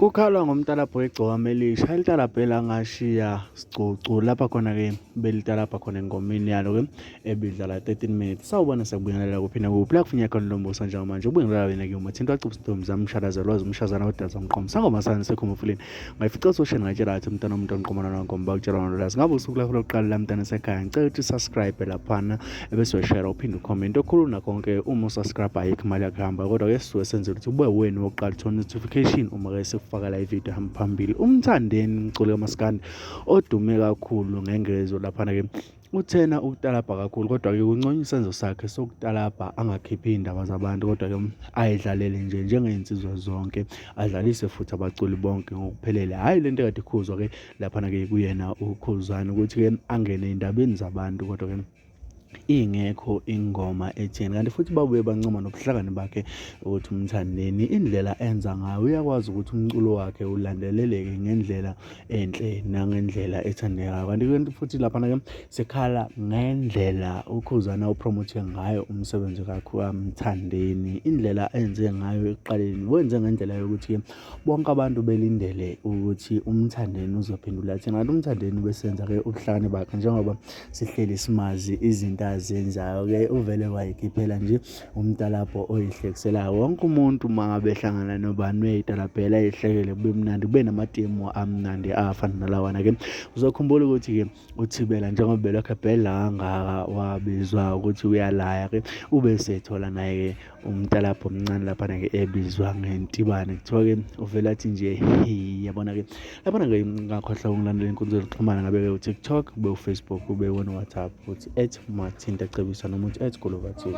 Kukhalwa ngomtalabho wegcokama elisha elitalabha elangashiya sigcucu lapha khona-ke belitalabha khona engomeni yalo-ke ebidlala 13 minutes sawubona sakubingelela kuphinde kuphi la kufinya khona lombuso njengamanje ubingelela wena-ke umathinto wacupha intombi zami mshalazelwa zimshazana odaza mqomo sangoma sani sekhumufuleni ngayifica sosheni ngatshela athi mntana umuntu onqomana nangomba ukutshela nolwazi ngabe usuku lakho lokuqala la mntana sekhaya ngicela ukuthi subscribe laphana ebese uyashare uphinde ucomment okhulu nakonke uma usubscribe ayikho imali yakuhamba kodwa ke sisuke senze ukuthi ube wena wokuqala uthola notification uma ke sekufakela ivideo hamba phambili umthandeni umculi kamaskandi odume kakhulu ngengezo laphana ke uthena ukutalabha kakhulu kodwa-ke kunconya isenzo sakhe sokutalabha angakhiphi iy'ndaba zabantu kodwa-ke ayidlalele nje njengey'nsizwa zonke adlalise futhi abaculi bonke ngokuphelele hhayi le nto ekade ikhuzwa-ke laphana-ke kuyena ukhuzane ukuthi-ke angene ey'ndabeni zabantu kodwa-ke ingekho ingoma etheni kanti futhi babuye bancoma nobuhlakani bakhe ukuthi umthandeni indlela enza ngayo uyakwazi ukuthi umculo wakhe ulandeleleke ngendlela enhle nangendlela ethandekayo kanti kanti futhi laphana-ke sekhala ngendlela ukhuzana upromothe ngayo umsebenzi kakho kamthandeni indlela enze ngayo ekuqaleni wenze ngendlela yokuthi-ke bonke abantu belindele ukuthi umthandeni uzophendula athi ngathi umthandeni ubesenza-ke ubuhlakani bakhe njengoba sihleli simazi izinto azenzayo-ke uvele wayikhiphela nje umtalabho oyihlekiselayo wonke umuntu uma ngabe ehlangana nobani uyayitalabhela ehlekele kube mnandi kube namatemu amnandi afana nalawana-ke uzokhumbula ukuthi-ke uthibela njengoba belokhu ebhedla kangaka wabizwa ukuthi uyalaya ke ube sethola naye umntalapho omncane laphana ke ebizwa ngentibane kuthiwa ke uvele athi nje yabona ke laphana ke ngakhohlwa ukungilandela inkundla yokuxhumana ngabe ke utiktok ube ufacebook ube wona whatsapp uthi at mathinta cebisa noma uthi at golova tv